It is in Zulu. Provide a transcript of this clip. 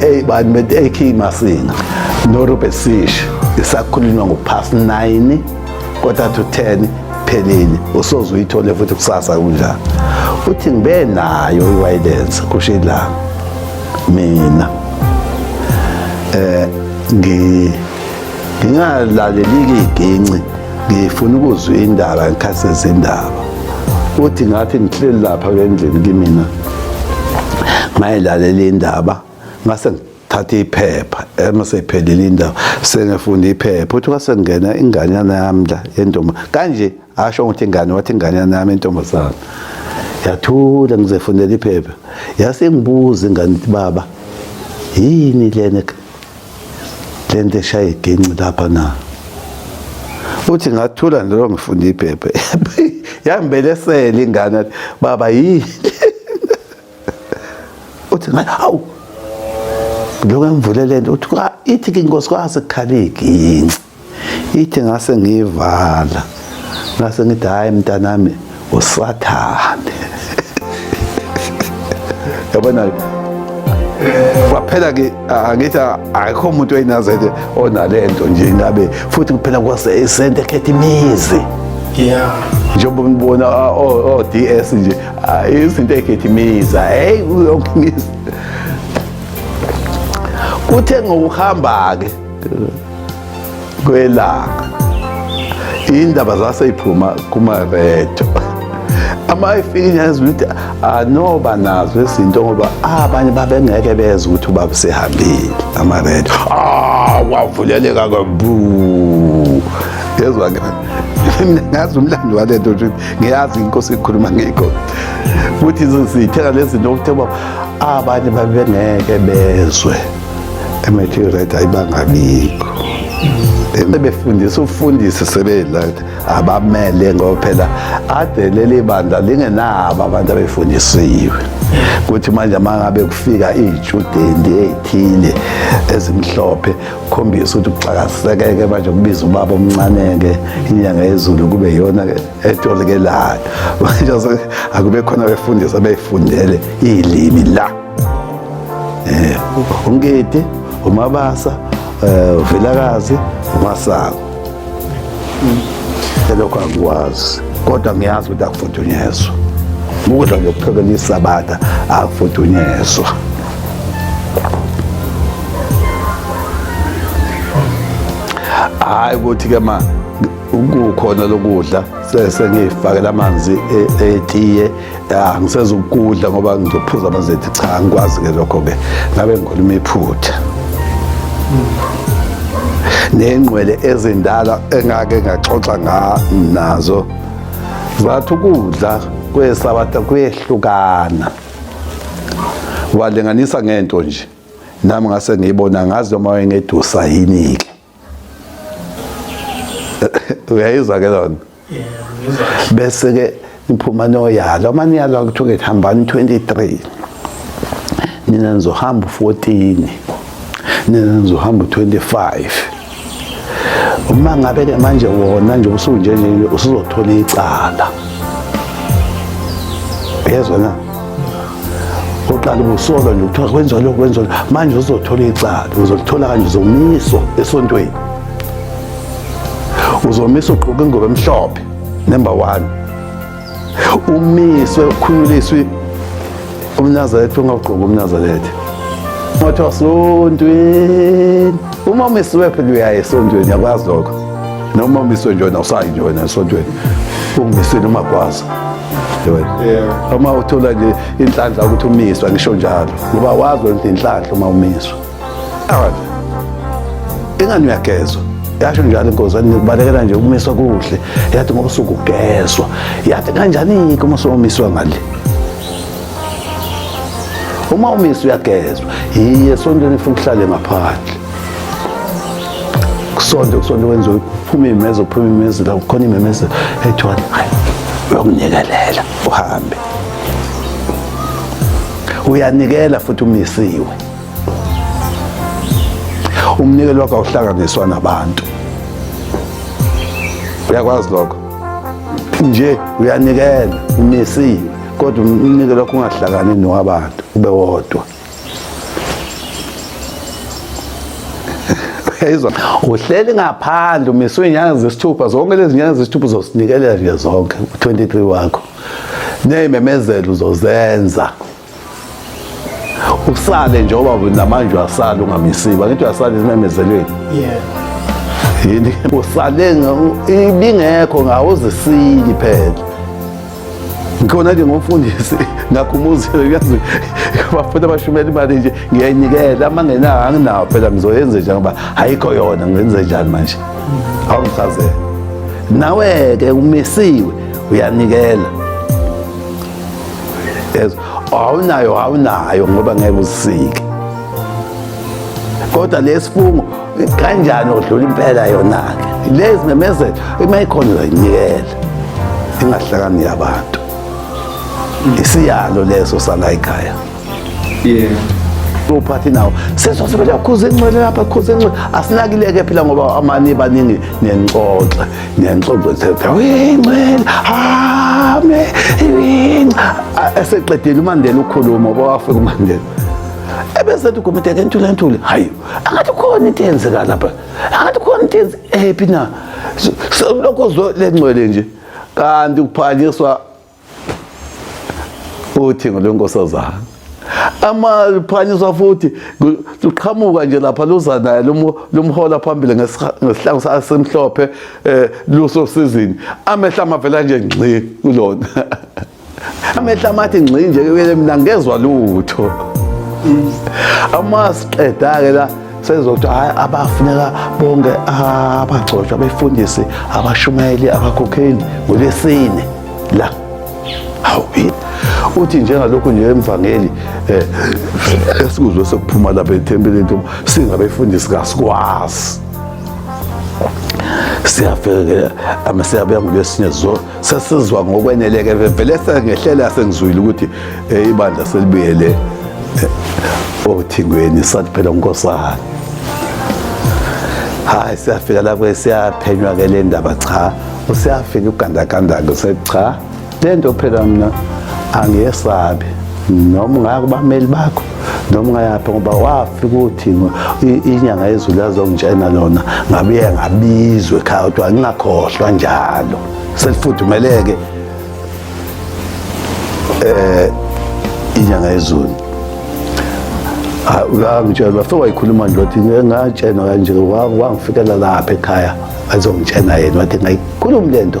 Hey bani bethi AK Masinga no Robert Sish isakhulunywa ngo past 9 quarter to 10 phelile usoze uyithole futhi kusasa kunjani uthi ngibe nayo iwayilence kusho ilanga mina eh ngi ngingalaleli-ke iginci ngifuna ukuzwa indaba ngikhathi sezindaba uthi ngathi ngihleli lapha kendlini kimina ngayilalela indaba ngase thatha iphepha emaseyiphelile indaba sengifunda iphepha uthi kwasengena inganyana yami la yentombi kanje asho ukuthi ingane wathi ingane yanami intombazana yathula ngizefunela iphepha yase ngibuza ingane ukuthi baba yini lena lento eshaye igenci lapha na uthi ngathula nalo ngifunda iphepha yambelesela ingane baba yini uthi ngathi hawu lokho engivulele nto uthi ithi ke inkosikazi kukhaleki yini ithi ngase ngiyivala ngase ngithi hayi mntanami usathane yabona kwaphela ke angithi akekho umuntu oyinazele onalento nje ingabe futhi kuphela kwase isente khetha imizi yeah njengoba ngibona o DS nje Hayi izinto egijimisa. Hey uyongimisa. Kuthe ngokuhamba ke kwelanga indaba zaseyiphuma kumaredo ama efika yazi ukuthi anoba nazo izinto ngoba abanye babengeke bezwe ukuthi ubaba sehambile amaredo ah wavuleleka kabu yezwa ngazi umlando walento ngiyazi inkosi ikhuluma ngikho futhi izosithela lezi zinto ukuthi baba abanye babengeke bezwe emethi red ayibangabikho befundisa ufundisi sebela abamele ngoba phela ade leli bandla lingenabo abantu abefundisiwe kuthi manje mangabe kufika iy'tshudeni ey'thile ezimhlophe khombisa ukuthi kuxakasekeke manje kubiza ubaba omncane-ke inyanga yezulu kube yona etolikelayo manje akube khona befundisi abeyifundele iy'limi la um ungidi umabasa um uvelakazi umasako selokho angikwazi kodwa ngiyazi ukuthi akufudunyezwa ukudla ngiyokuphekela isabatha akufudunyezwa hhayi ukuthi-ke ma kukhona lokudla sengiyifakela amanzi e-, etiye ya ngisezokudla ngoba ngizophuza amanzi cha ngikwazi ke lokho ke ngabe ngikhuluma iphutha nengqwele ezindala engake ngaxoxa nazo zathi ukudla kwesabatha kuyehlukana walinganisa ngento nje nami ngase ngiyibona ngazi noma wayengedusa yini-ke uyayizwa ke lona bese ke niphuma noyalo uma niyalwa kuthiwa ke hambani 23 nina nizohamba 14 nina nizohamba 25 uma ngabe ke manje wona nje usunje nje usuzothola icala yezwa na uqala ubusolwa nje kuthiwa kwenziwa lokhu kwenziwa manje uzothola icala uzolithola kanje uzomiswa esontweni uzomiswa ugqoke ingoba emhlophe number one umiswe ukhunyuliswe umnazaretha ungawugqoki umnazaretha ungathiwa sontweni uma umisiwe phela uyaye esontweni yakwazi lokho noma umiswe njona usayi njona esontweni ungimisweni umakwazi uma uthola nje inhlanhla ukuthi umiswa ngisho njalo ngoba wazi wenza inhlanhla uma umiswa ingani uyagezwa yasho njalo inkosi yathi ngibalekela nje ukumiswa kuhle yathi ngoba usukugezwa yathi kanjani-ke uma somiswa ngale uma umiswa uyagezwa yiye sontweni funa uhlale ngaphandle kusonto kusonto kwenziwe phuma imemeze phuma imemeze la khona imemeze ethiwani hayi uyokunikelela uhambe uyanikela futhi umisiwe umnikelo wakho awuhlanganiswa nabantu uyakwazi lokho nje uyanikela umisiwe kodwa umnikelo wakho ungahlakani nowabantu ube wodwa uyayizwa uhleli ngaphandle umiswe inyanga zesithupha zonke lezi nyanga zesithupha uzosinikelela nje zonke u-23 wakho neyimemezelo uzozenza usale nje oba namanje uyasala ungamisiba ngithi uyasala ezimemezelweni yini usale ibingekho ngawo uzisili phela Ngikhona-ke ngomfundisi ngakhumuzile kuyazi bafuna abashumela imali nje ngiyayinikela ama ngenayo anginawo phela ngizoyenze njani ngoba ayikho yona ngenze njani manje awungichazele nawe-ke umisiwe uyanikela yezwa awunayo awunayo ngoba ngeke uzisike kodwa lesifungo kanjani odlula impela yona-ke lezi memezelo uma ikhona uzayinikela ingahlakani yabantu isiyalo leso sala ikhaya yeah uphathi nawo sesosebele akhuze incwele lapha akhuze incwele asinakileke phela ngoba amani baningi nencoxe nencoxe thetha incwele hame eseqedile umandela ukhuluma oba wafika umandela ebesethi ugomiteke entule entule hayi angathi khona into eyenzeka lapha angathi khona into yenze ephi na lokho zwe lengcwele nje kanti kuphakiswa uthingo lwenkosazana amaphanyiswa futhi luqhamuka nje lapha luza naye lumhola phambili ngesihlangu sasemhlophe um eh, lusosizini amehla amavela nje ngxi kulona amehla amathi ngxi nje kuyele mina ngezwa lutho amasiqeda-ke la sezokuthi hhayi abafuneka bonke abagcotshwa abefundisi abashumayeli abakhokheli ngolwesine la hawu uthi njengalokhu nje emvangeli eh, esikuzwe sekuphuma lapha ethempelini uma singabefundisi kasikwazi siyafekela ama siyabuya ngolwesinye sesizwa ngokweneleke vele sengehlela sengizwile ukuthi eh, ibandla selibuyele eh, othingweni sathi phela unkosana hayi siyafika la kwesiyaphenywa ke le ndaba cha usiyafika ugandagandake secha le nto phela mna angiyesabi noma ungaka kubameli bakho noma ungayaphi ngoba wafika ukuthi inyanga yezulu yazongitshena lona ngabuye ngabizwe ekhaya kodwa ngingakhohlwa njalo selifudumeleke eh inyanga yezulu ngangitshela bafike wayikhuluma nje wathi ngatshena kanje wangifikela lapha ekhaya azongitshena yena wathi ngayikhulumi le nto